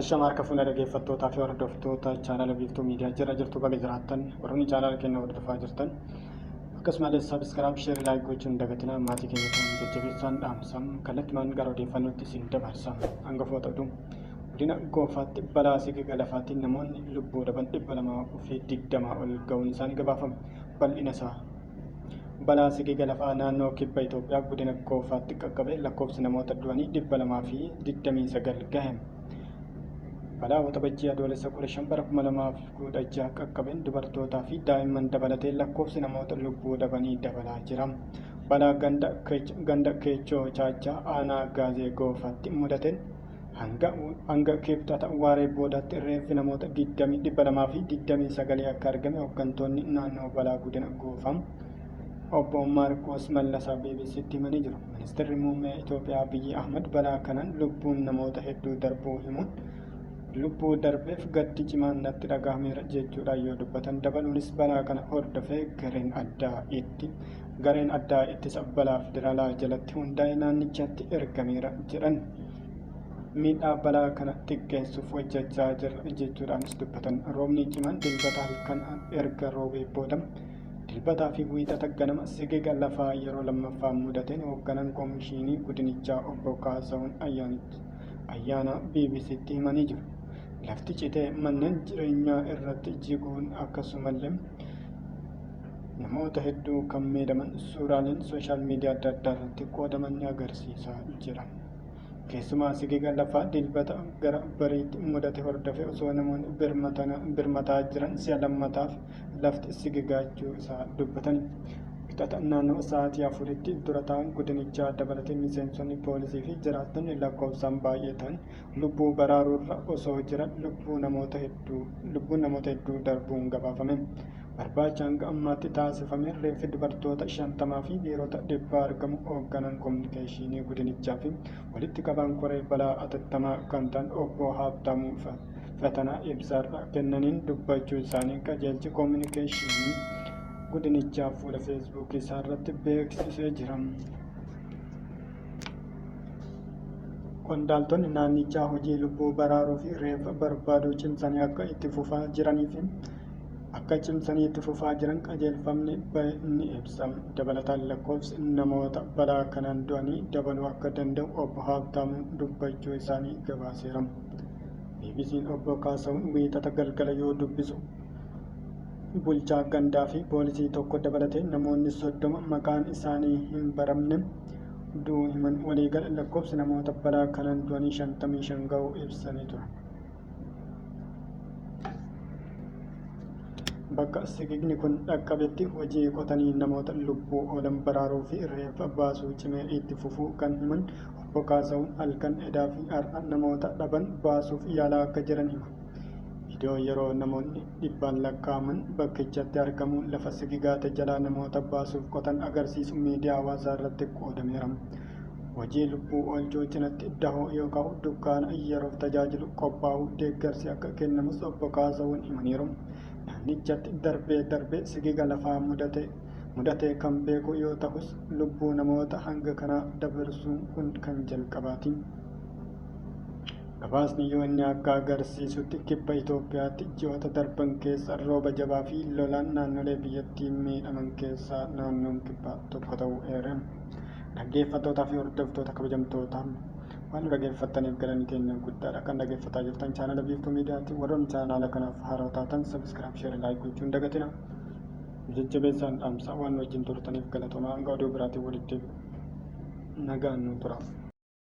Ashama harka fuuna dhaggeeffattootaa fi hordoftoota chaanala biiftuu miidiyaa jira jirtu baga jiraattan warroonni chaanala keenya hordofaa jirtan akkasumas sabiskiraab sheer laayik gochuun dagatinaa maatii keenya kan jajjabeessaan dhaamsam kallattimaan gara odeeffannootti isin dabarsam hangafoota oduu Godina Goofaatti balaa siga galafaatiin namoonni lubbuu dhaban 220 ol ga'uun isaanii gabaafame. Bal'ina isaa. Balaa sigi galafaa naannoo kibba Itoophiyaa godina Goofaatti qaqqabe lakkoofsi namoota du'anii 229 gahe. Balaa Waxabajjii Adoolessa 15 bara 2016 qaqqabeen dubartootaa fi daa'imman dabalatee lakkoofsi namoota lubbuu dhabanii dabalaa jira. Balaa ganda Keechoo Chaachaa aanaa Gaazee Goofaatti mudateen Hanga, hanga kibxata waaree boodaatti reeffi namoota 20 229 akka argame hooggantoonni naannoo balaa godina Goofaa obbo Maarqoos Mallasaa BBC'tti himanii jiru. Ministeerri muummee Itoophiyaa Abiyyi Ahmad balaa kanaan lubbuun namoota hedduu darbuu himuun lubbuu darbeef gaddi cimaan natti dhagahameera jechuudhaan yoo dubbatan dabaluunis balaa kana hordofee gareen addaa itti Gareen addaa ittisa balaa federaalaa jalatti hundaa'e naannichatti ergameera jedhan. Miidhaa balaa kana xiqqeessuuf hojjechaa jirra jechuudhaanis dubbatan. Roobni cimaan dilbata halkan erga roobee booda dilbataa fi wiixata ganama sigiga lafaa yeroo lammaffaa mudateen hoogganaan koomishiinii gudinichaa obbo Kaasahuun Ayyaanichi ayyaana BBCtti himanii jiru. Lafti citee manneen jireenyaa irratti jiguun akkasumallee namoota hedduu kan miidhaman suuraaleen sooshaal miidiyaa adda addaa irratti qoodaman ni agarsiisa jira. Keessumaa sigiga lafaa dilbata gara bariitti mudate hordofee osoo namoonni birmataa jiran si'a lammataaf lafti sigigaachuu isaa dubbatan. Wixata naannoo sa'aatii afuritti dura ta'an godinichaa dabalatee miseensonni poolisii fi jiraattonni lakkoofsaan baay'ee ta'an lubbuu baraaruurra osoo jiran lubbuu namoota hedduu lubbuun namoota hedduu darbuun gabaafame. Barbaacha hanga ammaatti taasifame reeffi dubartoota shantamaa fi dhiirota dhibbaa argamu hoogganaan kominikeeshinii gudinichaa fi walitti qabaan koree balaa atattamaa kan ta'an obbo Haabtaamuu Fatanaa ibsaarra kennaniin dubbachuu isaanii qajeelchi kominikeeshinii gudinichaa fuula feesbuukii isaarratti beeksisee jira. Qondaaltonni naannichaa hojii lubbuu baraaruu fi reeffa barbaaduu cimsanii akka itti fufaa jiranii fi akka cimsanii itti fufaa jiran qajeelfamni bahe ni ibsa. Dabalataan lakkoofsi namoota balaa kanaan du'anii dabaluu akka danda'u obbo Haabtaamuun dubbachuu isaanii gabaaseera. BBC'n obbo Kaasahuun wiixata galgala yoo dubbisu bulchaa gandaa fi poolisii tokko dabalatee namoonni soddoma maqaan isaanii hin baramne du'uu himan. Waliigala lakkoofsi namoota balaa kanaan du'anii 55 ga'uu ibsanii ture. Bakka sigiigni kun dhaqqabetti hojii qotanii namoota lubbuu oolan baraaruu fi reeffa baasuu cimee itti fufuu kan himan Obbo Kaasahuun halkan edaa fi har'a namoota dhaban baasuuf yaalaa akka jiran hima. Viidiyoon yeroo namoonni dhibbaan lakkaa'aman bakkichatti argamuun lafa sigigaate jalaa namoota baasuuf qotan agarsiisu miidiyaa hawaasaa irratti qoodameera. Hojii lubbuu oolchuu cinatti dahoo yoo ka'u dukkaana yeroof tajaajilu qophaa'uu deeggarsi akka kennamus obbo Kaasawuun himaniiru. Naannichatti darbee darbee sigiga lafaa mudate mudatee kan beeku yoo ta'us lubbuu namoota hanga kanaa dabarsuun kun kan jalqabaati. Gabaasni UN akka agarsiisutti kibba Itoophiyaatti ji'oota darban keessa rooba jabaa fi lolaan naannolee biyyattii miidhaman keessaa naannoon kibbaa tokko ta'uu eere. Dhaggeeffattootaa fi hordoftoota kabajamtootaa waan nu dhaggeeffattaniif galanni keenya guddaadha. Kan dhaggeeffataa jirtan chaanala Biiftuu Miidiyaati. Warroonni chaanaala kanaaf haaroo taatan sabiskiraayib, sheer, laayik gochuu hin dagatina. Nu jajjabeessaan dhaamsa waan nu wajjin turtaniif galatomaa. Hanga oduu biraatiin walitti deebinu nagaan nu tura.